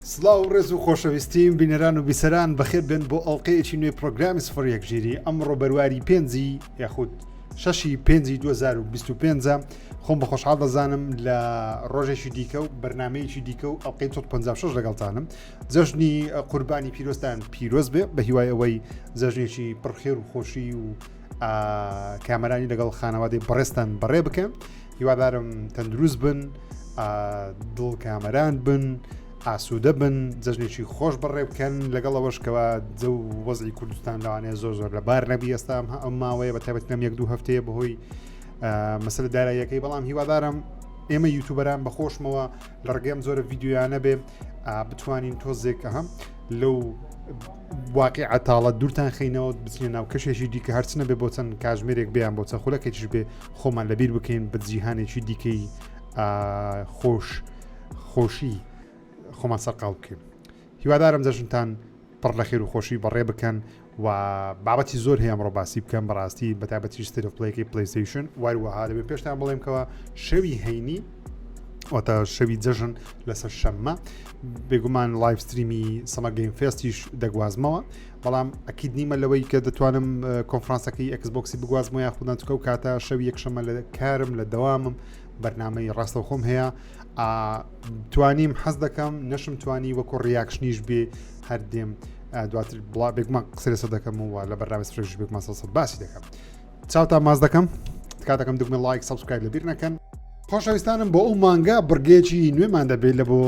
سڵاو و ڕێز و خۆشەویستیم بینەران و بیسەران بەخێر بێن بۆ ئەڵلقەیەکی نوێی پرۆگرامی سفر یەک ژیری ئەمڕۆ بەرواری پێنجی یاخود شەشی پێنجی 2025 خۆم بە خۆشحاڵ دەزانم لە ڕۆژێکی دیکە و بەرنمەیەکی دیکە و ئەڵلقەی 56 لەگەڵتانم جەژنی قوربانی پیرۆستان پیرۆز بێ بە هیوای ئەوەی جەژنێکی پڕخێر و خۆشی و کامەرانی لەگەڵ خانەوادەی بەڕێستان بەڕێ بکەن هیوادارم تەندروست بن دڵ کامەران بن ئاسوودە بن جەژنێکی خۆش بەڕێ بکەن لەگەڵ ئەوەشکەوە جە و وەزی کوردستان لەوانەیە زۆر زۆر لە بار نەبی ئێستام ئەم ماوەیە بە تابەت نەم یەک دوو هەفتەیە بەهۆی مەسل داراییەکەی بەڵام هیوادارم ئێمە یوتوبەران بەخۆشمەوە لە ڕگەم زۆرە یددیویانە بێ بتوانین تۆزێک هەم لەو واقع عتاڵە دوورتان خینەوە بچینە ناو کەشێکی دیکە هەرچنە بێ بۆ چەند کاژمێرێک بیان بۆ چە خولەکەیش بێ خۆمان لەبیر بکەین بە جیهانێکی دیکەی خۆش خۆشی خۆمان سەرقاڵ بکەین هیوادارم جەژنتان پڕ لە خێر و خۆشی بەڕێ بکەن و بابەتی زۆر هەیە ئەمڕۆ باسی بکەم بەڕاستی بەتابەتی سترفلەیەکی پلیسیشن واروەها دەبێت پێشتان بڵێمکەوە شەوی هەینی واتە شەوی جەژن لەسەر شەممە بێگومان لایفستریمی سەمەگەین فێستیش دەگوازمەوە بەڵام ئەکید نیمە لەوەی کە دەتوانم کۆنفرانسەکەی ئەکسبکسی بگوازمە یا خوددان چکە و کاتە شەو یەکشەمە لە کارم لە دەوامم بەرنمەی ڕاستەوخۆم هەیە توانیم حەز دەکەم نەشم توانی وەکو ڕیاکشنیش بێ هەر دێم دواتر بڵا بێگومان قسە لەسە دەکەم و لە بەرنامە سرێژ بێگومان سەسە باسی دەکەم چاوتان ماز دەکەم تکاتەکەم دکمە لایک سبسکرایب لە بیر نەکەن خۆشەویستانم بۆ ئەو مانگە بڕگەیەکی نوێمان دەبێت لە بۆ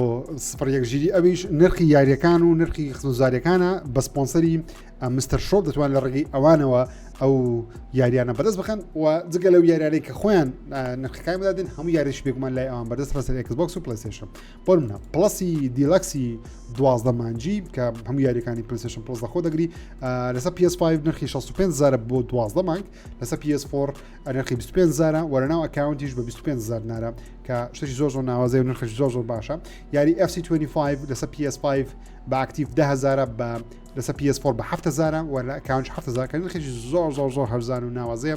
سفر یەک ژیری ئەویش نرخی یاریەکان و نرخی خزوزارەکانە بە سپۆنسەری مستەر شۆپ دەتوان لە ڕێگەی ئەوانەوە ئەو یاریانە بەدەست بخەن و جگە لەو یاریانەی کە خۆیان نرخەکان بدادن هەموو یاریش بێگومان لای ئەوان بەدەست ڕسەر ئەکسبکس و پلسێشن بۆ منە پڵسی دیلەکسی دوازدە مانجی کە هەموو یاریەکانی پلیسشن پلس لەخۆ دەگری لەسە PS5 نرخی 65 زارە بۆ دوازدە مانگ لەسە PS4 نرخی 25 زارە وەرەناو ئەکاونتیش بە 25 زار نارە کە شتێکی زۆر زۆر ناوازەی و نرخش زۆر زۆر باشە یاری FC25 لەسە PS5 بە ئاکتیف دهزارە بە لەسە PS4 بە هزارە وە لە ئەکاونج هزار کە نرخێکی زۆر زۆر زۆر هەرزان و ناوازەیە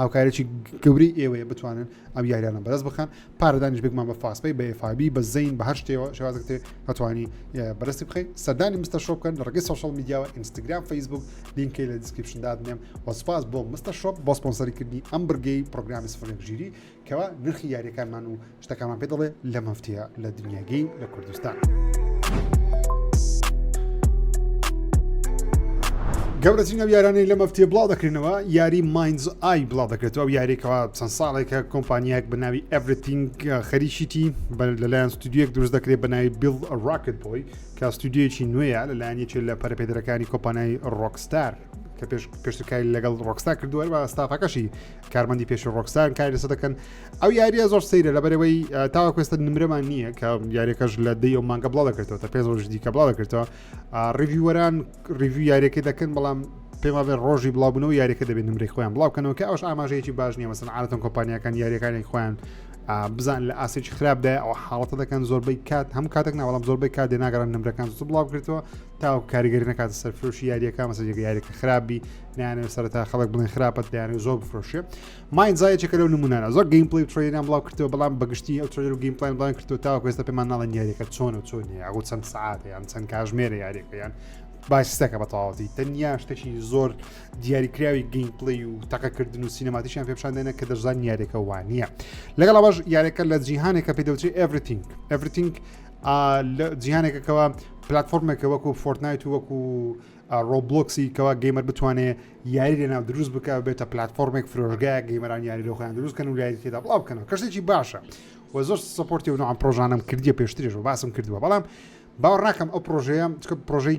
هاوکارێکی گەورەی ئێوەیە بتوانن ئەم یاریانە بەرز بخەن پارەدانیش بگمان بە فاسپی بە ئێفابی بە زین بە هەر شتێەوە شێوازێ هەتوانی بەرزی بخی سەردانی مستە شۆ بکەن لە ڕگەی سوشال میدیاوە ئینستاگرام فەیسبوک لینکەی لە دیسکرپشنداد نێم وەسپاس بۆ مستە شۆپ بۆ سپۆنسەری کردنی ئەم بڕگەی پرۆگرامی سفرێک ژیری کوا نرخی یاریەکانمان و شتەکانمان پێ دەڵێ لە مەفتیە لە دنیای گەیم لە کوردستان. گەورەترین ئەو یارانەی لە مەفتێ بڵاو دەکرێنەوە یاری ماینز ئای بڵاو دەکرێتەوە ئەو یاریکەوە چەند ساڵێکە کۆمپانیایەک بە ناوی ئەڤرتینگ خەریشیتی لەلایەن ستودیوەک دروست دەکرێت بە ناوی بیڵ ڕاکت بۆی کە ستودیویەکی نوێیە لەلایەن یەکێت لە پەرپێدرەکانی کۆپانای ڕۆکستار کە پێش پێشتکاری لەگەڵ ڕۆکستا کردووە بە ستافەکەشی کارمەندی پێش ڕۆکسان کاری لەسە دەکەن ئەو یاریە زۆر سەیرە لە بەرەوەی تاواکوێستە نمرەمان نییە کە یاریەکەش لە دەی و مانگە بڵا دەکرێتەوە تا پێ ڕۆژ دیکە بڵا دەکرێتەوە ڕیویوەران ڕیوی یاریەکە دەکەن بەڵام پێما بێ ڕۆژی بڵاوبوونەوە یاریەکە دەبێت نمرێک خۆیان بڵاوکەنەوە کە ئەوش ئاماژەیەکی باش نیە مەسن عادەتەن کۆمپانیەکان یاریەکانی خۆیان بزان لە ئاسێکی خراپدا ئەو حاڵەتە دەکەن زۆربەی کات هەم کاتێک ناوەڵام زۆربەی کات دێناگەڕان نمرەکان زوو بڵاو کرێتەوە تاوەکو کاریگەری نەکاتە سەر فرۆشی یاریەکە مەسە جێگە یاریەکە خراپبی نیانەوە سەرتا خەڵک بڵێن خراپەت دەیانە زۆر بفرۆشێ ماین زایەکە لەو نمونانە زۆر گەیم پلی تریدان بڵاو کردەوە بەڵام بەگشتی ئەو ترێر و گەیم پلان بڵان کردو تا کوێستە پێمان ناڵە یاریەکە چۆن و چۆن یاغ چەند سعات یان چەند کاژمێرە یاریەکەیان باسیستەکە بە تەواوەتی تەنیا شتێکی زۆر دیاریکراوی گەیم پلی و تەقەکردن و سینەماتیشیان پێپشاندێنە کە دەشزان یاریەکە وانە لەگەڵ باش یاریەکە لە جیهانێکە پێدەوتری ئەڤرتینگ ئەڤرتینگ جیهانێکە کەەوە پلتفۆرمێکە وەکو فۆرتنایت و وەکو ڕۆبلۆکسی کەوا گەیمەر بتوانێ یاری لە ناو دروست بک بێتە پلتفۆرمێک فرۆژگای گەیمەران یاری لەخۆیان دروستکەن و لای تێدا بڵاو بکەنەوە کەشتێکی باشە و زۆر سپۆرتی و نوعام پرۆژانم کردیە پێشترێش و باسم کردووە بەڵام باوەڕاکەم ئەو پرۆژەیە پرۆژەی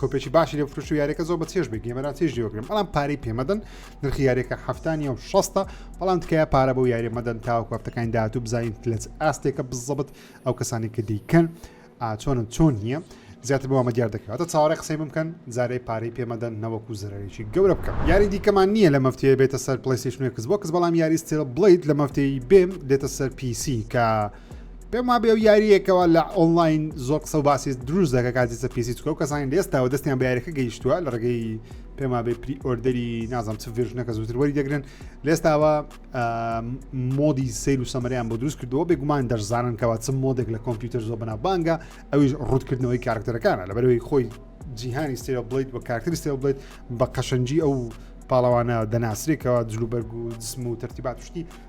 کۆپێکی باشی لە فرش و یاریەکە زۆر بە چێش بێ گەمەران چێژ لێوەگرم بەڵام پارەی پێمەدەن نرخی یاریەکە هەفتانی و شەستە بەڵام تکایە پارە بۆ یاری مەدەن تاوە کافتەکانی داهاتوو بزانین لەچ ئاستێکە بزەبت ئەو کەسانی کە دیکەن ئاچۆن و چۆن نییە زیاتر بۆ ئەمە دیار دەکەواتە چاوەڕێ قسەی بمکەن جارەی پارەی پێمەدەن نەوەکو زەرەرێکی گەورە بکەم یاری دیکەمان نییە لە مەفتەیە بێتە سەر پلیسیشنێکس بۆ کەس بەڵام یاریستێ بڵیت لە مەفتەی بێم دێتە سەر پیسی کە پێم وابێ و یاریەکەەوە لە ئۆنلاین زۆر قسە و باسی دروست دەکە کاتیسە پیسی چکە و کەسانی لێستاوە دەستیان بەیارەکە گەیشتووە لە ڕێگەی پێما بێ پری ئۆردەری نازم چ ڤێژنەکە زووتر وەری دەگرن لێستاوە مۆدی سیر و سەمەریان بۆ دروست کردەوە بێگومان دەرزانن کەەوە چ مۆدێک لە کۆمپیوتەر زۆ بنا بانگە ئەویش ڕوتکردنەوەی کارکتەرەکانە لە بەرەوەی خۆی جیهانی سێرە بڵیت بە کارکتری سێ بڵێت بە قەشەنجی ئەو پاڵەوانە دەناسرێکەوە جلوبەرگ و جسم و تەرتیبات شتی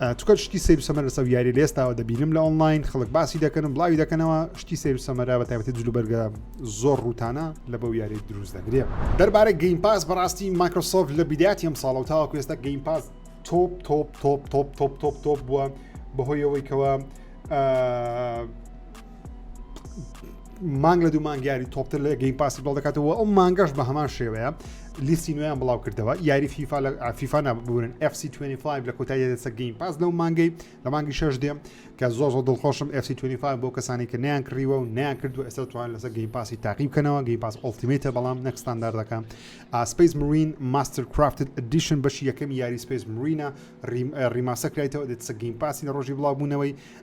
تکەل شتی سەیر و سەمەر لەسەر یاری لە ئێستاوە دەبینم لە ئۆنلاین خەڵک باسی دەکەن بڵاوی دەکەنەوە شتی سەیر و سەمەرا بە تایبەتی جلوبەرگە زۆر ڕووتانە لە بەو یاری دروست دەگرێ دەربارە گەیم پاس بەڕاستی مایکرۆسۆف لە بیداتی ئەم ساڵەوە تاوەکو ئێستا گەیم پاس تۆپ تۆپ تۆپ تۆپ تۆپ تۆپ تۆپ بووە بەهۆیەوەی کەەوە مانگ لە دوو مانگ یاری تۆپتر لە گەیم پاسی بڵ دەکاتەوە ئەو مانگەش بە هەمان شێوەیە لیستی نوێیان بڵاو کردەوە یاری فیفا لە فیفا نابورن FC25 لە کۆتایی دەسە گەیم پاس لەو مانگەی لە مانگی شش دێم کە زۆر زۆر دڵخۆشم FC25 بۆ کەسانی کە نیان کڕیوە و نیان کردو ئێستا توان لەسەر گەیم پاسی تاقی بکەنەوە گەی پاس ئۆلتیمیتە بەڵام نەکستانداردەکە ئاسپیس مرین ماستر کرافت ئەدیشن بەشی یەکەم یاری سپیس مرینە ریماسە کرایتەوە دەسە گەیم پاسی لە ڕۆژی بڵاوبوونەوەی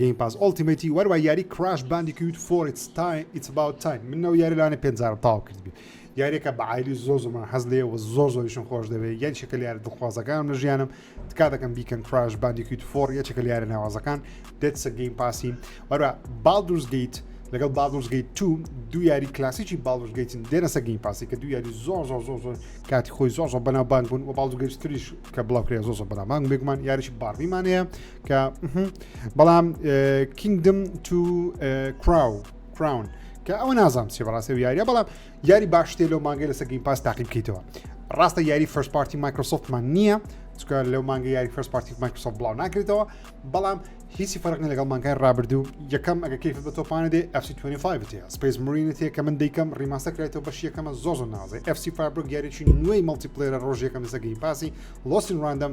گەیم پاس ئۆڵتیمەیتی وەروا یاری کراش باندیکیوت فۆر ئیتس تایم ئیتس ئەباوت تایم من نەوە یاری لەوانە پێنج جارم تەواو کردبێ یاریەکە بە عایلی زۆر زۆر من حەز لێ و زۆر زۆریشم خۆش دەوێت یاری شەکە یارە دڵخوازەکانم لە ژیانم تکا دەکەم بیکەن کراش باندیکیوت فۆر یەکێکە لە یارە ناوازەکان دێت سە گەیم پاسی وەروا بالدورز گەیت لەگەڵ باڵدورز گەیت تو دوو یاری کلاسیکی باڵدورز گەیتن دێنەسە گەیم پاسی کە دوو یاری زۆر زۆر زۆر زۆر کاتی خۆی زۆر زۆر بەناوبانگ بوون و باڵدورز گەیت تریش کە بڵاو کرێ زۆر زۆر بەناوبانگ بێگومان یاریی باربیمان هەیە کە بەڵام کینگدم تو کراو کراون کە ئەوە نازانام چی بەڕاستی و یاریە بەڵام یاری باشتێ لەو مانگەی لەسە گەین پاس تاقی بکەیتەوە ڕاستە یاری فەرست پارتی مایکرۆسۆفتمان نییە چکە لەو مانگە یاری فەرست پارتی مایکرۆسۆف بڵاو ناکرێتەوە بەڵام هیچی فەرقنی لەگەڵ مانگای ڕابردوو یەکەم ئەگە کەیف بە تۆپانە دێ FC25 تێ سپیس مرینت هەیە کە من دیکەم ڕیماستە کرێتەوە بەش یەکەمە زۆ زۆ نازێ FC فابرۆ گەریی نوێی مەڵتی پلێرە ڕۆژ یەکەم لەسەگەی پاسی لۆسین ڕاندەم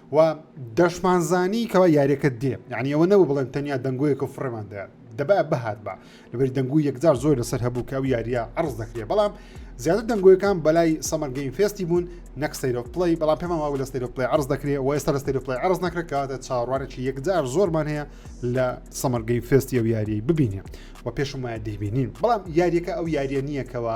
و دەشمانزانی کەوا یاریەکە دێ یعنی ئەوە نەبوو بڵێن تەنیا دەنگۆیەکە و فڕێمان دەیان دەبا بهات بە لەبەری دەنگو یەکجار زۆر لەسەر هەبوو کە ئەو یاریە عرض دەکرێت بەڵام زیاتر دەنگۆیەکان بەلای سەمەر گەیم فێستی بوون نەک سەیرۆ پلی بەڵام پێمان واو لە سەیرۆ پلی عرض دەکرێت و ئێستا لە سەیرۆ پلی عرض نەکرێتکەواتە چاڕوانێکی یەکجار زۆرمان هەیە لە سەمەر گەیم فێستی ئەو یاریی ببینێ و پێشم وایە دەیبینین بەڵام یاریەکە ئەو یاریە نییەکەوە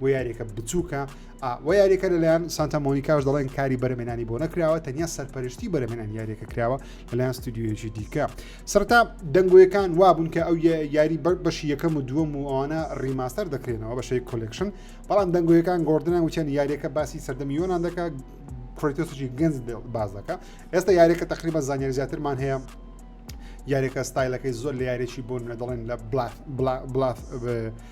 بۆ یاریەکە بچووکە و یاریەکە لەلایەن سانتا مۆنیکاش دەڵێن کاری بەرەمێنانی بۆ نەکراوە تەنیا سەرپەرشتی بەرەمێنان یاریەکە کراوە لەلایەن ستودیویەکی دیکە سەرتا دەنگۆیەکان وابوون کە ئەو یاری بەر بەشی یەکەم و دووەم و ئەوانە ڕیماستەر دەکرێنەوە بەشەی کۆلکشن بەڵام دەنگۆیەکان گۆردنان وچەن یاریەکە باسی سەردەمی یۆناان دەکە کۆیتۆسیی گەنج باز دەکە ئێستا یاریەکە تقریبا زانیاری زیاترمان هەیە یاریەکە ستایلەکەی زۆر لە یاریی بۆ نوێ دەڵێن لە بلاف بلاف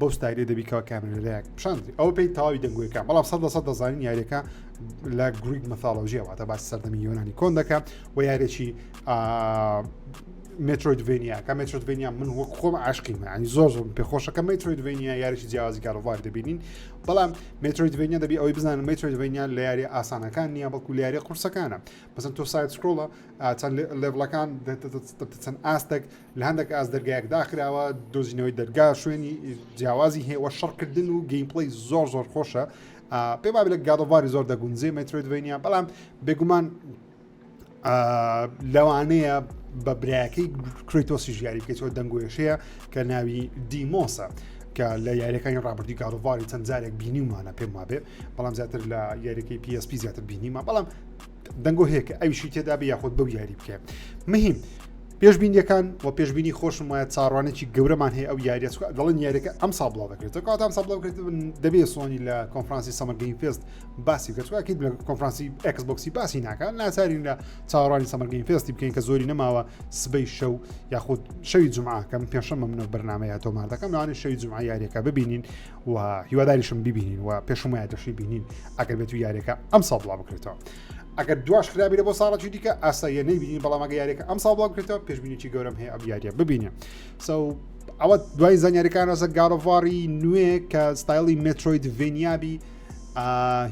بەو ستایلێ دەبی کەوا کامێرەدایەک پیشاندی ئەو پێی تەواوی دەنگوێکە بەڵام سەد لەسەد دەزانین یاریەکە لە گرویک مەثالۆژیە واتە باس سەردەمی یۆنانی کۆن دەکە و یارێکی مترۆیدڤێنیا کە مترۆدڤێنیا من وەک خۆم عاشقی مەنی زۆر زۆر پێخۆشەکە مترۆیدڤێنیا یاریی جیازی کارۆڤار دەبینین بەڵام مترۆیدڤێنیا دەبی ئەوەی بزان مترۆیدڤێنیا لە یاری ئاسانەکان نییە بەڵکو لاری قورسەکانە بەسن تۆ سایت سکرۆڵە چەند لێڤڵەکان چەند ئاستێک لە هەندێک ئاست دەرگایەک داخراوە دۆزینەوەی دەرگا شوێنی جیاوازی هەیە وە شەڕکردن و گەیمپڵی زۆر زۆر خۆشە پێ با لە گادەواری زۆر دەگونجێ مەترۆیدڤینیا بەڵام بێگومان لەوانەیە بە برایەکەی کریتۆسی ژیاری بکەیتەوە دەنگۆێشەیە کە ناوی دیمۆسە. کە لە یاریەکانی ڕابردی گاڵواری چەند جارێک بینیمانە پێم وابێ بەڵام زیاتر لە یاریەکەی PSP زیاتر بینیمە بەڵام دەنگۆ هەیە کە ئەویشی تێدا بێ یاخود بەو یاری بکە مهم پێشببینیەکان و پێشببینی خۆشم وایە چاڕوانێکی گەورەمان هەیە ئەو یاریە دەڵن یاریەکە ئەم سا بڵاو دەکرێتەوە کات ئەم سا بڵاو کرێت دەبێ سۆنی لە کۆنفرانسی سەمەگەی پێست باسی گەتوواکیت لە کۆنفرانسی ئەکسبکسی باسی ناکە ناچارین لە چاڕوانی سەمەگەی پێستی بکەین کە زۆری نەماوە سبەی شەو یاخود شەوی جمعکەم پێشەمە منە بەرنمەیە تۆمار دەکەم ناوانێ شەوی جمع یاریەکە ببینین و هیواداریشم ببینین و پێشم وایە دەشی بینین ئەگەر بێت و یاریەکە ئەم ساڵ بڵاو بکرێتەوە ئەگەر دواش خراپی لە بۆ ساڵەتی دیکە ئاساییە نبینین بەڵامەگە یاریەکە ئەم ساڵ بڵاو بکرێتەوە پێشبینیی گەورم هەیە ئەم یاریە ببینێ سو ئەوە دوای زانیاریەکان ڕسە گاڵۆڤاری نوێ کە ستایلی مترۆید ڤێنیابی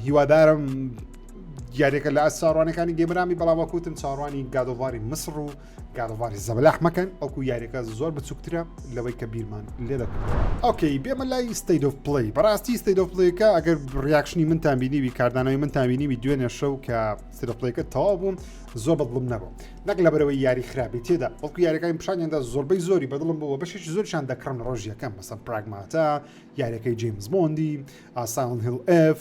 هیوادارم یاریەکە لە ئەساڕوانەکانی گەمرامی بەڵاوەکوتم چاڕوانی گادۆڤاری مسر و کاروباری زەبەلاح مەکەن ئەوکو یاریەکە زۆر بچووکترە لەوەی کە بیرمان لێ دەکەن ئۆکەی بێمە لای ستەیت of پلی بەڕاستی ستەیت of پلیەکە ئەگەر ڕیاکشنی منتان بینیوی کاردانەوەی منتان بینیوی دوێنێ شەو کە سرپلەکە تەوا بووم زۆر بەدڵم نەبوو نەک لە بەرەوەی یاری خراپی تێدا ئەوکو یاریەکانی پیشانیاندا زۆربەی زۆری بەدڵم بووە بەشێک زۆرشان دەکڕن ڕۆژیەکەم مەسە پراگماتە یاریەکەی جیمز بۆندی ئاسان هل F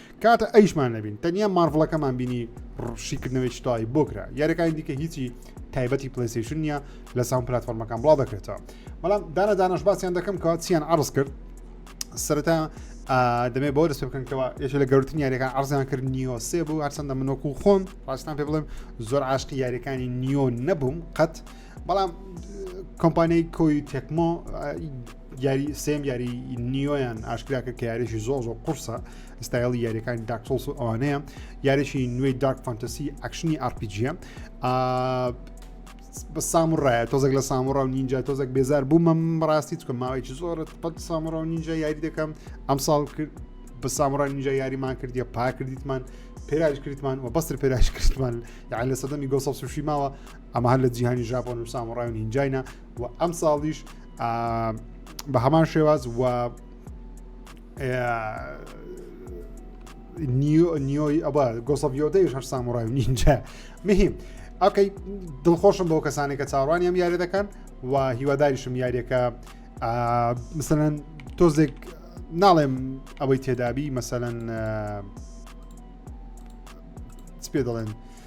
کاتە ئەیشمان نەبین تەنیا مارڤڵەکەمان بینی ڕشیکردنەوەی تای بۆ کرا یاریەکانی دیکە هیچی تایبەتی پلیسیشن نیە لە ساون پلتفۆرمەکان بڵا دەکرێتەوە بەڵام دانە دانش باسییان دەکەم کە چیان عرض کرد سەرەتا دەمێ بۆ دەست بکەنەوە یش لە گەورتن یاریەکان عرزیان کرد نیۆ سێ بوو هەرچەندە منۆک و خۆم ڕاستان پێ بڵێم زۆر عاشقی یاریەکانی نیۆ نەبووم قەت بەڵام کۆمپانیای کۆی تێکمۆ یاری سێم یاری نیۆیان ئاشکراکە کە یاریشی زۆ زۆ قورسە ستایلی یاریەکانی داکسۆس و ئەوانەیە یاریشی نوێی دارک فانتەسی ئەکشنی ئارپیجیە بە سامڕایە تۆزێک لە سامڕ و نینجا تۆزێک بێزار بوو مەم ڕاستی چکە ماوەیەکی زۆرت پەت سامڕ و نینجا یاری دەکەم ئەم ساڵ کرد بە سامڕای نینجا یاریمان کردیە پا کردیتمان پێراش کردمان و بەستر پێراش کردمان یان لە سەدەمی گۆسەڵ سوشی ماوە ئەمە هەر لە جیهانی ژاپۆن و سامڕای و نینجاینا و ئەم ساڵیش بە هەمان شێواز و نیۆی ئەبا گۆسەڤیۆدەیش هەر ساموڕای و نینجا مهم ئەکەی دڵخۆشم بەو کەسانێک کە چاڕوانیم یارە دەکەن و هیواداریشم یاریەکە مثلەن تۆزێک ناڵێم ئەوەی تێدابی مەسەەن پێ دەڵێن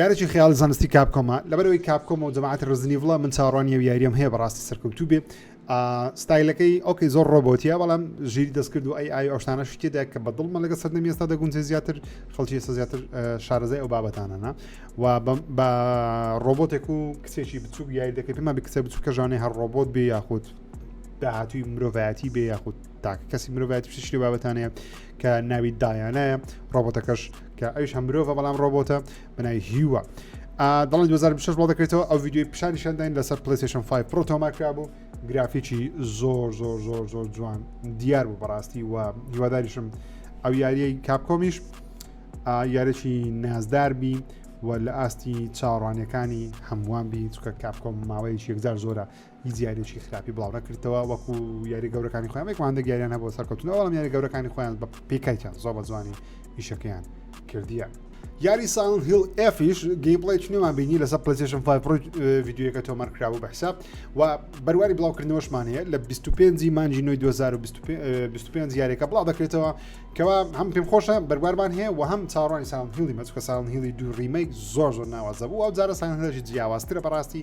یارێکی خەیاڵی زانستی کاپکۆمە لەبەرەوەی کاپکۆم و جەماعەتی ڕزنیڤڵە من چاڕوانی و یاریەم هەیە بەڕاستی سەرکەوتوو بێ ستایلەکەی ئۆکەی زۆر ڕۆبۆتیە بەڵام ژیری دەستکرد و ئەی ئای ئەوشتانە شتێدا کە بە دڵمە لەگە سەردەم ئێستا دەگونجێ زیاتر خەڵکی ئێستا زیاتر شارەزای ئەو بابەتانەنا و بە ڕۆبۆتێک و کچێکی بچوک یاری دەکەی پێما بکسە بچووکە ژانێ هەر ڕۆبۆت بێ یاخود داهاتوی مرۆڤایەتی بێ یاخود تاکە کەسی مرۆڤایەتی شتی بابەتانەیە کە ناوی دایانایە ڕۆبۆتەکەش کە ئەویش هەم مرۆڤە بەڵام ڕۆبۆتە بەناوی هیوا دڵی 2026 بڵ دەکرێتەوە ئەو ویددیوی پیشانیشانداین لەسەر پلیسیشن 5 پرۆ تۆماکرا بوو گرافیکی زۆر زۆر زۆر زۆر جوان دیار بوو بەڕاستی و هیواداریشم ئەو یاریی کاپکۆمیش یارێکی نازدار بی و لە ئاستی چاوەڕوانەکانی هەمووان بی چکە کاپکۆم ماوەیەکی یەکجار زۆرە هیچ یاریێکی خراپی بڵاوڕەکردەوە وەکو یاری گەورەکانی خۆیان وەکوان دەگەریان هەبوو سەرکەوتن ئەوڵام یاری گەورەکانی خۆیان بە پێکایان زۆ بە جوانی ئیشەکەیان کردیە. یاری ساون هیل ئفیش گەیمپڵی چنێوان بینی لەسەر پلسیشن یددیوەکە تۆمار کراوە بە حساب و بەرواری بڵاوکردنەوەشمان هەیە لە 25 مانجی نوی 2025 یاریەکە بڵاو دەکرێتەوە کەوا هەم پێم خۆشە بەروارمان هەیە و هەم چاڕانی ساون هیلی مەچکە ساون هیلی دوو ریمەیک زۆر زۆر ناوازە بوو ئەو جارە سان هێژی جیاوازترە بەڕاستی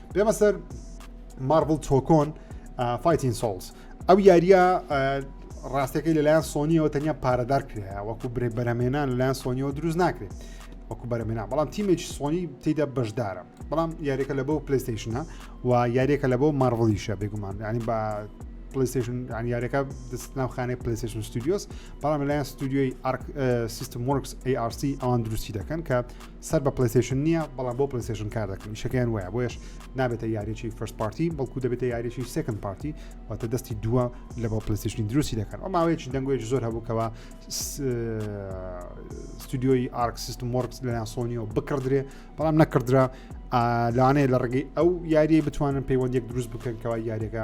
بێمە سەر مارڤڵ تۆکۆن فایتین سۆڵس ئەو یاریە ڕاستەکەی لەلایەن سۆنیەوە تەنیا پارەدار کرایە وەکو برێ بەرەمێنان لەلایەن سۆنیەوە دروست ناکرێت وەکو بەرەمێنا بەڵام تیمێکی سۆنی تێدا بەشدارە بەڵام یاریەکە لە بۆ پلیستیشنە و یاریەکە لە بۆ مارڤڵیشە بێگومان ینی بە پلیستیشن یاریەکە دەست ناوخانەی پلیستیشن ستودیۆس بەڵام لەلایەن ستودیۆی سیستم وەرکس ARC ئەوان دروستی دەکەن کە سەر بە پلیسشن نییە بەڵام بۆ پلیسشن کار دەکەن شەکەیان وایە بۆیش نابێتە یاریی فرست پارتی بەڵکو دەبێتە یاریی سکن پارتی واتە دەستی دووە لە بۆ پلیسشنی دروستی دەکەن ئەو ماوەیەکی دەنگۆێک زۆر هەبووکەوە ستودیۆی ئارک سیستم وەرکس لەیان سۆنیەوە بکڕدرێ بەڵام نەکردرا لانەیە لە ڕگەی ئەو یاریە بتوانن پەیوەندێک دروست بکەنکەوە یاریەکە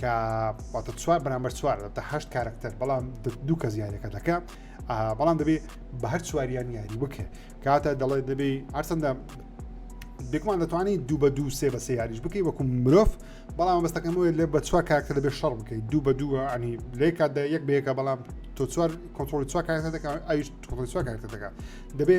کە واتە چوار بەرامبەر چوار تا هەشت کارکتەر بەڵام دوو کەس یاریەکە دەکە بەڵام دەبێ بە هەر چواریان یاری بکە کاتە دەڵێت دەبێ هەرچەندە بێکمان دەتوانانی دوو بە دوو سێ بە سێ یاریش بکەی وەکو مرۆڤ بەڵام بەستەکەم وێت لێ بە چوار کارکتە دەبێت شەڕ بکەیت دوو بە دووە ئەنی لێکاتدا یەک بەیەکە بەڵام تۆ چوار کۆنتترۆلی چوار کارکتە دەکە ئەویش تۆڵی چوار کارکتە دەکە دەبێ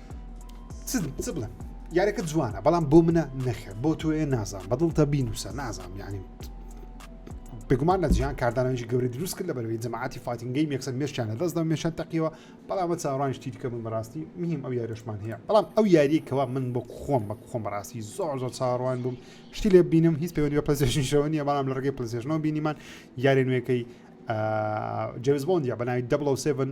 چ چ بڵێم یارەکە جوانە بەڵام بۆ منە نەخێر بۆ تۆێ نازان بەدڵتە بینوسە نازان یعنی بگومان لە جیان کاردانەوەی گەوری دروست کرد لە بەرەوەی جەماعتی فاتینگەی مێکسەر مێشیان لە دەستدا مێشان تەقیەوە بەڵامە چاڕان شتی دیکە من بەڕاستی میم ئەو یاریشمان هەیە بەڵام ئەو یاریە کەوا من بۆ خۆم بە خۆم بەڕاستی زۆر زۆر چاڕوان بووم شتی لێ بینم هیچ پەیوەندی بە پلسێشنشەوە نیە بەڵام لە ڕگەی پلسێشنەوە بینیمان یاری نوێەکەی جەوز بۆندیا بە ناوی دەبڵ و سێڤن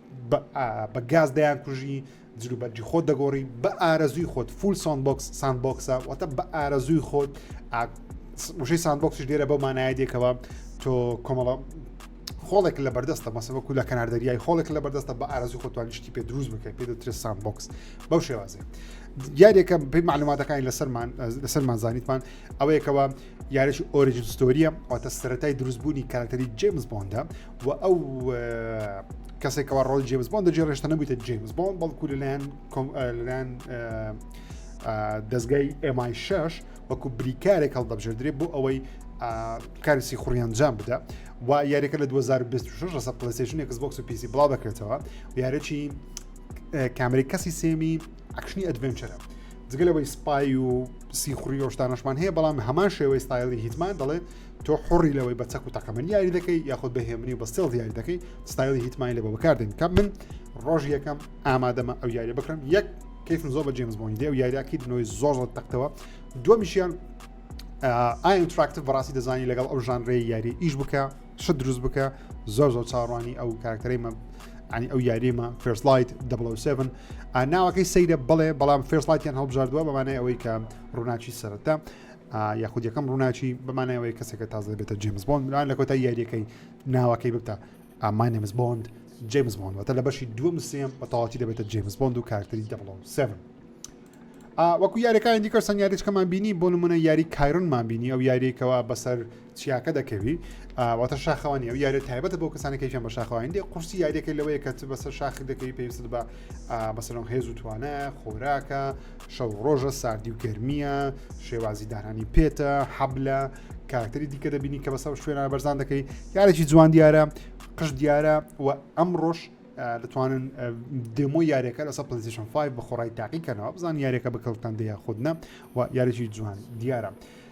بە گاز دەیانکوژی جلو بەرگی خۆت دەگۆڕی بە ئارەزوی خۆت فول ساندبکس ساندبکسە واتە بە ئارەزوی خۆت وشەی ساندبکسش دێرە بەو مانایە دێکەوە تۆ کۆمەڵە خۆڵێک لە بەردەستە مەسەوە کو لە کەنار دەریای خۆڵێک لە بەردەستە بە ئارزی خۆتوانیشتی پێ دروست بکەیت پێ دەترێت ساندبکس بەو شێوازێ یاریەکە پێی معلوماتەکانی لەسەرمان لەسەرمان زانیتمان ئەوەیەکەوە یاریش ئۆریجنستۆریە ئەوتە سەتای دروستبوونی کارکتەری جیمز بۆندە و ئەو کەسێکەوە ڕۆل جیمز بۆن دەجێ ڕێشتە نەبوویتە جیمز بۆن بەڵکو لەلایەن لەلایەن دەستگای ئێمای شش وەکو بریکارێک هەڵدەبژێدرێت بۆ ئەوەی کارسی خوڕیانجام بدە و یاریەکە لە 2026 ڕسە پلسیشن کسبکس و پیسی بڵاو دەکرێتەوە یارەی کامری کەسی سێمی ئەکشنی ئەدڤنچەرە جگە لەوەی سپای و سیخوری ۆشتانەشمان هەیە بەڵام هەمان شێوەی ستایلی هیتمان دەڵێت تۆ حڕی لەوەی بە چەک و تەقەمەنی یاری دەکەی یاخود بە هێمنی بە سێڵ دیاری دەکەی ستایلی هیتمانی لە بۆ بەکاردێن کە من ڕۆژ یەکەم ئامادەمە ئەو یاری بکەم یەک کەیفم زۆر بە جێمز بۆنی دێ و یاریاکی نوۆی زۆر زۆر تەختەوە دومیشیان ئاین تراکتە بەڕاستی دەزانی لەگەڵ ئەو ژانرێ یاری ئیش بکە شت دروست بکە زۆر زۆر چاڕوانی ئەو کارکتەرەی مە ینی ئەو یاریمە فرسلایت 7 ناوەکەی سەیرە بڵێ بەڵام فرسلایتیان هەڵبژاردووە بەمانای ئەوەی کە ڕووناچی سەرەتا یاخود یەکەم ڕووناکی بەمانایەوەی کەسێکە تازە دەبێتە جیمز بۆند لان لە کۆتای یاریەکەی ناوەکەی ببتە ئامانێمز بۆند جیمز بۆند وەتە لە بەشی دووەم سێم بە تەواتی دەبێتە جیمز بۆند و کارتری دەبڵەوە سێڤن وەکو یاریەکانی دیکە سەنگاریچکەمان بینی بۆ نمونە یاری کایرنمان بینی ئەو یاریەکەوە بەسەر چیاکە دەکەوی ئاواتە شاخەوانی ئەو یارە تایبەتە بۆ کەسانی کەیان بە شاخوانی دێ قورسی یاریەکە لەوەیە کە بەسەر شاخی دەکەی پێویست بە بەسەرم هێز و توانە خۆراکە شەو ڕۆژە ساردی و گەرمیە شێوازی دانانی پێتە حەبلە کارکتەری دیکە دەبینی کە بەسەر شوێنە بەرزان دەکەی یارێکی جوان دیارە قش دیارە و ئەم ڕۆژ دەتوانن دێمۆ یاریەکە لەسە پلیسیشن 5 بە خۆڕای تاقیکەنەوە بزان یاریەکە بەکەڵتان دەیە خودنە و یاریی جوان دیارە.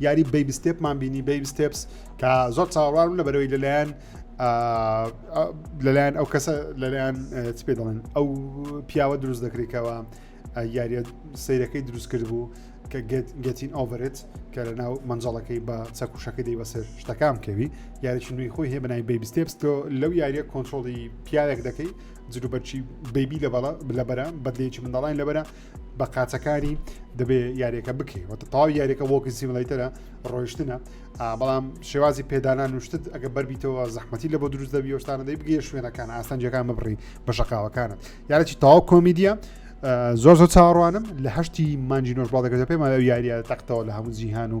یاری بەیب ستێپمان بینی بەیب ستێپس کە زۆر چاوەڕوان لە بەرەوەی لەلایەن لەلایەن ئەو کەسە لەلایەن چ پێ دەڵێن ئەو پیاوە دروست دەکرێتەوە یاریە سیرەکەی دروست کرد بوو کە گەتین ئۆڤرێت کە لە ناو منجڵەکەی بە چەکوشەکە دەی بەسەر شتەکان کەوی یاریی نوێی خۆی هەیە بەنای بەیبی ستێپستۆ لەو یاریە کۆنتترۆڵی پیاوێک دەکەی جروبەرچی بەیبی لە بەڵە لەبەرە بەدلێکی منداڵین لەبەرە بە قاچەکاری دەبێ یاریەکە بکەی وە تەواو یاریەکە وەکی سیملەیتەرە ڕۆیشتنە بەڵام شێوازی پێدانان نوشتت ئەگە بەربیتەوە زەحمەتی لە بۆ دروست دەبی شتانە دەی بگەیە شوێنەکان ئاستەنجەکان ببڕی بە شقاوەکانت یاەکی تاو کۆمیدیە زۆر زۆر چاڕوانم لە هەشتی مانجی نۆژبڵ دەکرێت پێمان یاریە تەختەوە لە هەموو جیهان و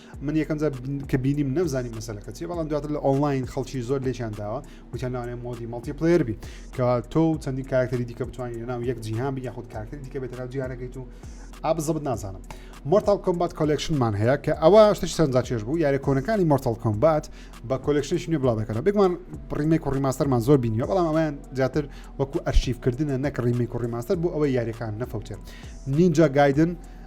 من یەکەم جار بن- کە بینیم نەمزانی مەسەلەکە چیە بەڵام دواتر لە ئۆنلاین خەڵکی زۆر لێکیان داوە وتیان لەوانەیە مۆدی مەڵتی پلەیر بی کە تۆ و چەندین کاراکتەری دیکە بتوانین لە ناو یەک جیهان بی یاخود کاراکتەری دیکە بێتە ناو جیهانەکەیت و ئا بزەبت نازانم مۆرتال کۆمبات کۆلێکشنمان هەیە کە ئەوە شتێکی سەرنجا چێژ بوو یارە کۆنەکانی مۆرتال کۆمبات بە کۆلێکشنێکی نوێ بڵاو دەکەنەوە بێگومان ڕیمێک و ڕیماستەرمان زۆر بینیوە بەڵام ئەویان زیاتر وەکو ئەرشیفکردنە نەک ڕیمێک و ڕیماستەر بۆ ئەوەی یاریەکان نەفەوتێت نینجا گایدن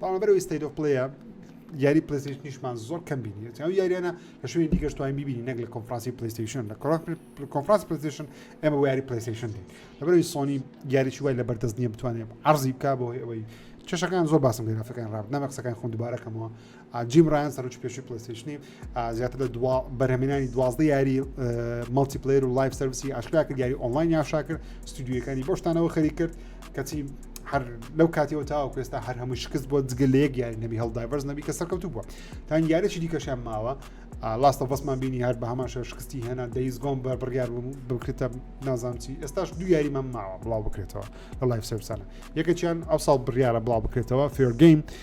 بەرامبەر ئەوەی ستەیت ئۆف پلەیە یاری پلیستیشنیشمان زۆر کەم بینی ئەو یاریانە لە شوێنی دیگەش توانین ببینی نەک لە کۆنفرانسی پلیستیشن لە کۆنفرانس پلیستیشن ئێمە بۆ یاری پلیستیشن دێن لەبەرەوەی سۆنی یاریی وای لە بەردەست نییە بتوانێت عرضی بک بۆی ئەوەی چشەکان زۆر باسم لێرافەکان ڕاب نامە قسەکان خۆم دوبارەکەمەوە جیم ڕیان سەرچ پێشی پلیستیشنی زیاتر لە دوا بەرهەمێنانی دوازدە یاری مەڵتی پلیر و لایف سرویسی ئاشکرا کرد یاری ئۆنلاین یاشا کرد ستودیوەکانی بۆشتانەوە خەری کرد کەچی هەر لەو کاتیەوە تاوە کوێستا هەر هەموو شکست بۆ جگە لە یەک یاری نەبی هەڵدایڤەرز نەبی کە سەرکەوتو بووە تا یارێکی دیکەشیان ماوە لاستە بەسمان بینی هەر بە هەمان شەر شکستی هێنا دەیز گۆم بە بڕیار بووم بکرێتە نازانچی ئێستاش دو یاریمان ماوە بڵاو بکرێتەوە لە لایف سەرسانە یەکەچیان ئەو ساڵ بڕیاە بڵاو بکرێتەوە فێرگەیم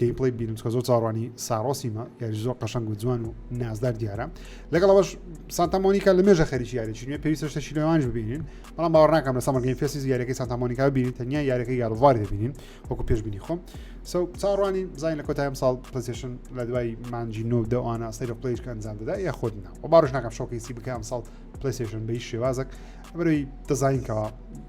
گەیم پلەی بینم چکە زۆر چاڕوانی ساڕۆسیمە یاری زۆر قەشنگ و جوان و نازدار دیارە لەگەڵ ئەوش سانتامۆنیکا لە مێژە خەریکی یاریی نوێ پێویستە شتە شیلوانش ببینین بەڵام باوەڕ ناکەم لە سەمەگەین فێسیز یاریەکەی سانتامۆنیکا ببینین تەنیا یاریەکەی یاروڤار دەبینین وەکو پێشبینی خۆم سو چاڕوانی زای لە کۆتایم ساڵ پلسیشن لە دوای مانجی نۆ دەوانە سەیر پلیش کە ئەنجام دەدا یا خۆت نە و باش ناکەم شۆکەیسی بکەم ساڵ پلیسیشن بەی شێوازک بەروی دەزانینکەوە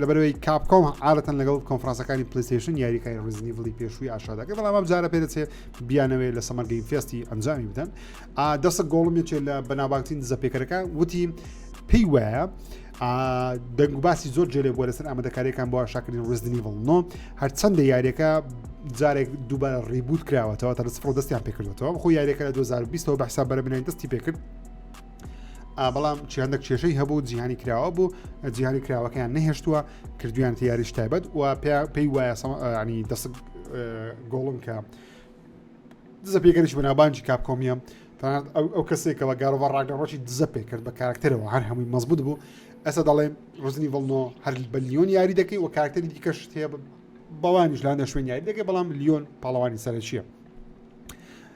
لەبەرئەوەی کاپکۆم عادەتەن لەگەڵ کۆنفرانسەکانی پلەیستەیشن یاریەکانی ڕزنی بڵی پێشووی ئاشادەکە بەڵام ئەم جارە پێ دەچێت بیانەوەی لە سەمەر گەیم فێستی ئەنجامی بدەن دەسە گۆڵم یەکێ لە بەناوبانگترین دزە پێکەرەکە وتی پێی وایە دەنگ و باسی زۆر جێلێ بۆ لەسەر ئامادەکاریەکان بۆ شاکردین ڕزدنی بڵنۆ هەرچەندە یاریەکە جارێک دووبارە ڕیبوت کراوەتەوە تا لە سفر دەستیان پێکردەوە خۆ یاریەکە لە 2020ەوە بەحساب بەرە بنین دەستی پێکرد بەڵام چیاندەک کێشەی هەبوو جیهانی کراوە بوو جیهانی کراوەکەیان نەهێشتووە کردویان تیاریش تایبەت و پێی وایە ینی دەست گۆڵم کە دزە پێگەریش بەنابانجی کاپکۆمیە تەنانەت ئەو کەسێکەوە گارۆڤ ڕاگەڕۆکی دزە پێ کرد بە کارکتەرەوە هەر هەمووی مەزبوط بوو ئەسا دەڵێ ڕزنی ڤڵنۆ هەر بە لیۆن یاری دەکەی و کارکتەری دیکەش هەیە بەوانیش لاندە شوێن یاری دەکەی بەڵام لیۆن پاڵەوانی سەرەکیە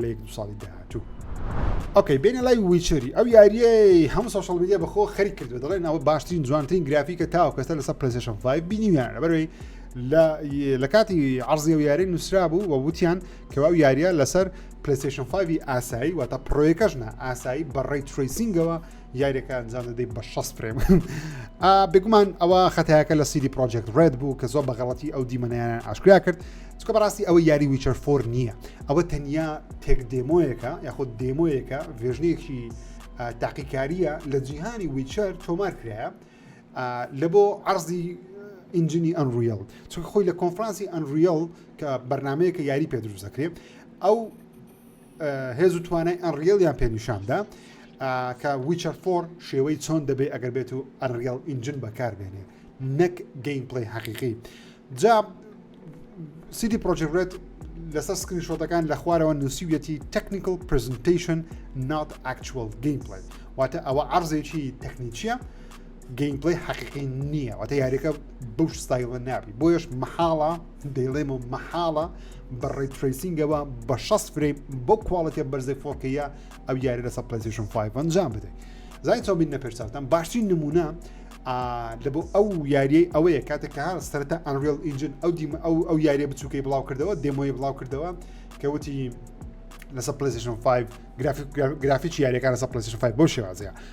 لە یەک دو ساڵی داهاتوو ئۆکەی بێنە لای ویچری ئەو یاریەی هەم سوشل میدیا بەخۆ خەری کردو دەڵێ ناوە باشترین جوانترین گرافیکە تاو کەسە لەسەر پرسشن بینیویان بەروی لە کاتی عرضی و یاری نووسرا بوو و وتیان کەوا و یاریە لەسەر پلیسیشن 5 ئاسایی واتە پرۆیەکەشنا ئاسایی بەڕێی تریسینگەوە یاریەکە ئەنجام دەدەی بە شەست فرێم بگومان ئەوە خەتایەکە لە سیدی پرۆجێکت ڕێت بوو کە زۆر بەغڵەتی ئەو دیمەنیانیان ئاشکرا کرد چکە بەڕاستی ئەوە یاری ویچەر فۆر نییە ئەوە تەنیا تێک دێمۆیەکە یاخود دێمۆیەکە ڤێژنێکی تاقیکاریە لە جیهانی ویچەر تۆمار کرایە لە بۆ عرضی ئینجنی ئەنڕیل چونکە خۆی لە کۆنفرانسی ئەنڕیل کە بەرنمەیە کە یاری پێ دروست دەکرێت ئەو هێز و توانای ئەنڕیڵیان پێ نیشاندا کە ویچەر فۆر شێوەی چۆن دەبێ ئەگەر بێت و ئەنڕیڵ ئینجن بەکاربێنێ نەک گەین پلی حەقیقی جا سیدی پرۆژێت لەسەر سکرین شۆتەکان لە خوارەوە نووسیویەتی تەکنیکل پرزنتیشن نات ئەکچوەل گەین پلی واتە ئەوە عرضێکی تەکنیکیە گەین پلی حەقیقی نییە واتە یاریەکە بەو ستایلە نابی بۆیش محاڵە دەیڵێمەوە مەحاڵە بە ڕێتریسینگەوە بە 6 فرەیم بۆ کوواڵەتە بەرزەی فۆکەیە ئەو یاری لەسە پلسیشن 5 ئەنجام بدەیت زای تۆبین نە پێشتاوتان باشترین نمونە لە بۆ ئەو یاریەی ئەوەیە کاتێک کە هەر سەرتا ئەنریل ئینجن ئەو دیمە ئەو ئەو یاریە بچووکەی بڵاو کردەوە دێمۆی بڵاو کردەوە کەوتی لەسە پلسیشن 5 گرافیک گرافیکی یاریەکان لەسە پلسیشن 5 بۆ شێوازەیە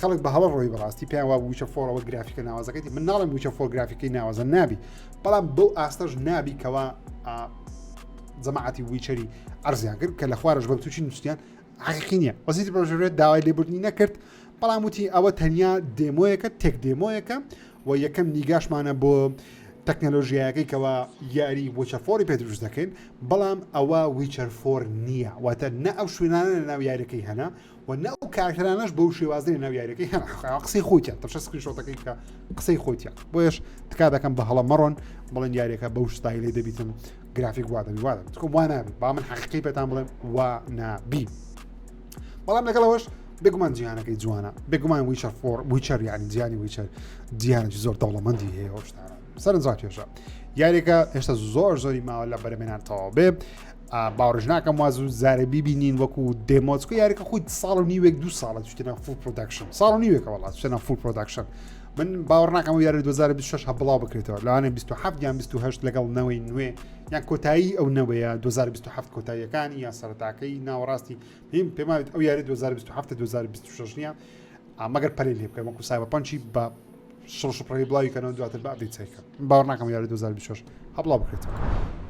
خەڵک بە هەڵە ڕۆی بەڕاستی پێیان وا وچە فۆرەوە گرافیکە ناوازەکەی من ناڵم وچە فۆر گرافیکی ناوازە نابی بەڵام بەو ئاستەش نابی کەوا جەماعەتی ویچەری ئەرزیان کرد کە لە خوارش بە تووشی نووسیان عقی نییە وەزیتی بەژێت داوای لێبوردنی نەکرد بەڵام وتی ئەوە تەنیا دێمۆیەکە تێک دێمۆیەکە و یەکەم نیگاشمانە بۆ تەکنەلۆژیایەکەی کەەوە یاری وچە فۆری پێ دروست دەکەین بەڵام ئەوە ویچەر فۆر نییە واتە نە ئەو شوێنانە لە ناو یارەکەی هەنا و نە ئەو کارکرانەش بەو شێوازی لە ناو یاریەکەی هەم قسەی خۆیتە تەشە سکرین شۆتەکەی کە قسەی خۆیتە بۆیش تکا دەکەم بە هەڵە مەڕۆن بڵێن یاریەکە بەو شتایی لێ دەبیتم گرافیک وادەبی وادە تکۆم وانابی با من حەقیقی پێتان بڵێم وا نابی بەڵام لەگەڵەوەش بێگومان جیهانەکەی جوانە بێگومان ویچەر فۆر ویچەر یعنی جیانی ویچەر جیانێکی زۆر دەوڵەمەندی هەیە هۆشتانە سەرنجڕاکێشە یاریەکە هێشتا زۆر زۆری ماوە لە بەرەمێنان تەواو بێ باوەڕش ناکەم وا زوو زارە بیبینین وەکو دێمۆچکە یاریکە خۆی ساڵ و نیوێک دو ساڵە چتنە فول پرۆداکشن ساڵ و نیوێکە وڵات چتنە فول پرۆداکشن من باوەڕ ناکەم و یاری 2026 هە بڵاو بکرێتەوە لەوانێ 27 یان 28 لەگەڵ نەوەی نوێ یان کۆتایی ئەو نەوەیە 2027 کۆتاییەکانی یان سەرتاکەی ناوەڕاستی پێم پێماوێت ئەو یاری 2027 2026 نیە مەگەر پەلەی لێ بکەن وەکو سایبەرپەنچی بە شڕ شپڕەوی بڵاوی کەنەوە دواتر بە ئەبدەیت سەیکە باوەڕ ناکەم یاری 2024 هەبڵا بکرێتەوە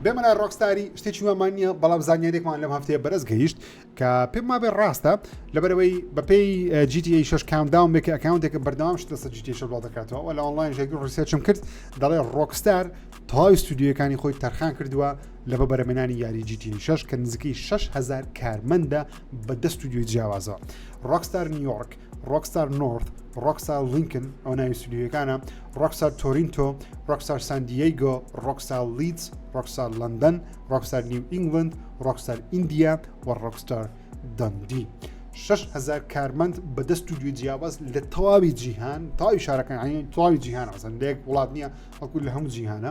بێمە لای ڕۆکستاری شتێکی وامان نییە بەڵام زانیارێکمان لەم هەفتەیە بەرز گەیشت کە پێم مابێ ڕاستە لەبەرەوەی بەپێی جیتی شش کامداوم بێکە ئەکاونتێکە بەردەوام شت لەسەر جیتی شە بڵاو دەکاتەوە وە لە ئۆنلاین ژێگی ڕیسێچم کرد دەڵێ ڕۆکستار تەواوی ستودیوەکانی خۆی تەرخان کردووە لە بە بەرەمێنانی یاری جیتی شش کە نزیکەی 6هزار کارمەندە بە دە ستودیۆی جیاوازەوە ڕۆکستار نیویۆرک ڕۆکستار نۆرد ڕۆکستار لینکن ئەو ناوی سودیوەکانە ڕۆکستار تۆرینتۆ ڕۆکستار ساندیگۆ ڕۆکستار لیدز ڕۆکستار لندن ڕۆکستار نیو ئینگلند ڕۆکستار ئیندیا و ڕۆکستار دەندی. 6هزار کارمەند بە دەست و دوی جیاواز لە تەواوی جیهان تاوی شارەکانی تاوی جیهان ڕزن لەیەک وڵات نییە ئەکو لە هەموو جیهانە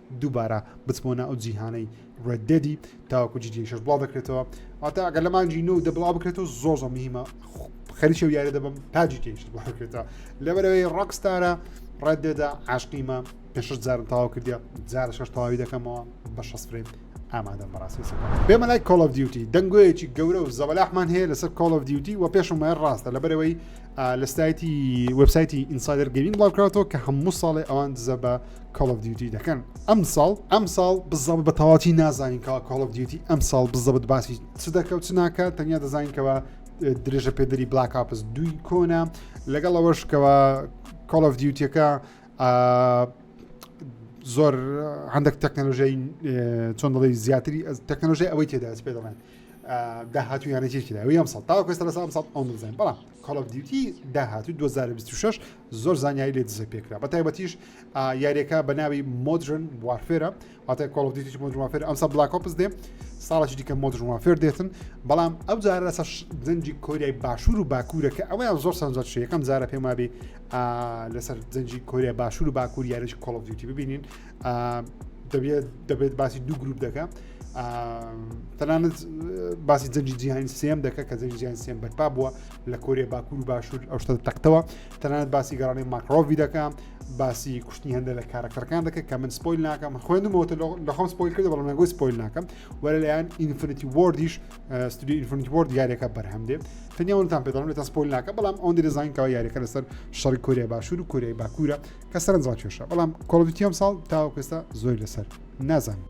دووبارە بچمەوە ناو ئەو جیهانەی ڕێد دێدی تاوەکو جیدی شش بڵاو دەکرێتەوە ئەوتا ئەگەر لە مانجی نۆ دە بڵاو بکرێتەوە زۆر زۆر مهمە خەریکی و یارە دەبم تاجی تێشت بڵکرێتەوە لەبەرەوەی ڕەکستارە ڕێد دێدا عاشقیمە پێ شش جارم تاوا کردیا جارە شش تەواوی دەکەمەوە بە شەست فرێم ئامادە بەڕاستی پێمە لای کۆڵ of دیوتی دەنگۆیەکی گەورە و زەبەلاحمان هەیە لەسەر کۆڵ of دیوتی و پێشم وایە ڕاستە لەبەرەوەی لە سایتی وبسایتی ئینسایدر گەوین بڵاوکاتەوە کە هەموو ساڵێ ئەوان دزە بە کۆڵ ئۆف دیوتی دەکەن ئەمساڵ ئەمساڵ بزەب بە تەواتی نازانین کە کۆڵ ئۆف دیوتی ئەمساڵ بزەبت باسی چ دەکە و چ ناکە تەنیا دەزانینکەوە درێژە پێدەری بلاک ئاپس دوی کۆنا لەگەڵ ئەوەشکەوە کۆڵ ئۆف دیوتیەکە زۆر هەندێک تەکنەلۆژیای چۆن دەڵی زیاتری تەکنەلۆژی ئەوەی تێدا پێ دەڵێن داهاتوو یانەتێکی داوی ئەم ساڵ تاوەکەس لە سام ساڵ ئەو نزانین بەڵام کۆڵ دیوتی داهاتوو 2026 زۆر زانیاری لێ دزە پێکرا بە تایبەتیش یاریەکە بە ناوی مۆدرن وارفێرە واتای کۆڵدیتی مۆدروافێر ئەمسا بلاکۆپس دێ ساڵێکی دیکە مۆدروافێر دێتن بەڵام ئەو جارە لەسەر زەنجی کۆریای باشوور و باکوورە کە ئەویان زۆر سەنجەر شەکەم جارە پێمابی لەسەر زەنجی کۆریای باشوور و باکوور یاریش کۆڵدیتی ببینین دەبێت دەبێت باسی دوو گروپ دەکە تەنانەت باسی جەنجی جیهانی سێم دەکە کە جەنجی جیان سێم بەرپا بووە لە کۆریە باکوور و باشوور ئەو شتە تەختەوە تەنانەت باسی گەڕانی ماکڕۆڤی دەکەم باسی کوشتنی هەندە لە کارەکتەرەکان دەکە کە من سپۆیل ناکەم خوێندمەوەتە لەخۆم سپۆیل کرد بەڵام نەگوی سپۆیل ناکەم وەرە لەیان ئینفنتی وردیش ستودی ئینفنتی ورد یاریەکە بەرهەم دێ تەنیاونتان پێدەڵم لێتە سپۆیل ناکە بەڵام ئەوەن دەزانکەوە یاریەکە لەسەر شەڕی کۆریە باشوور و کۆریای باکوورە کە سەرنجڕ کێشە بەڵام کۆڵڤتیەم ساڵ تاوەکەستا زۆر لەسەر نازانم.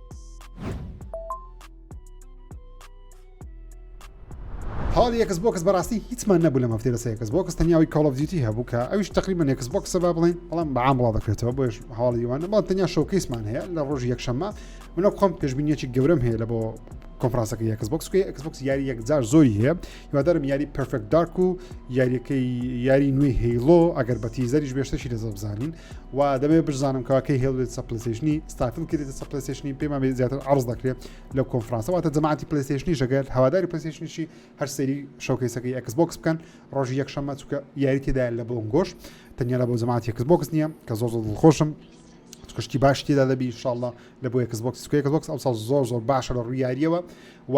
هاڵی یەکس بۆکس بەڕاستی هیچمان نەبوو لەم هەفتەی بەسەر یەکس بۆکس تەنیاوی کاڵڤدیتی هەبوو کە ئەوش تقریبا یەکس بۆکسە با بڵێن بەڵام بەعام بڵا دەکرێتەوە بۆش هاڵی وانە بەڵام تەنیا شەوکەیسمان هەیە لە ڕۆژی یەکشەممە منە خۆم پێشبینیەکی گەورەم هەیە لە بۆ کۆنفرانسەکە یەکس بۆکسکی ئەکسبکس یاری یەکجار زۆری هەیە هیوادارم یاری پرفێک دارک و یاریەکەی یاری نوێی هەیڵۆ ئەگەر بە تیزەریش بێشتەشی لە زۆر بزانین و دەبێت بزانم کەواکەی هێڵێت سەپلسیشنی ستافل کرێت سەپلسیشنی پێمان زیاتر عرض دەکرێت لەو کۆنفرانسە واتە جەماعەتی پلیستشنی ژەگەر هەواداری پلیستشنیی هەر سەری شوکەیسەکەی ئەکس بۆکس بکەن ڕۆژی یەکشەممە چکە یاری تێدا لە بۆم گۆش تەنیا لە بۆ جەماعەت یەکس بۆکس نییە کە زۆ زۆ خۆشم کشتی باش تێدا دەبی شاءله لە بۆ یەکس بۆکس سکێکس بۆکس ئەو زۆر زۆر باشە لە ڕوویاریەوە و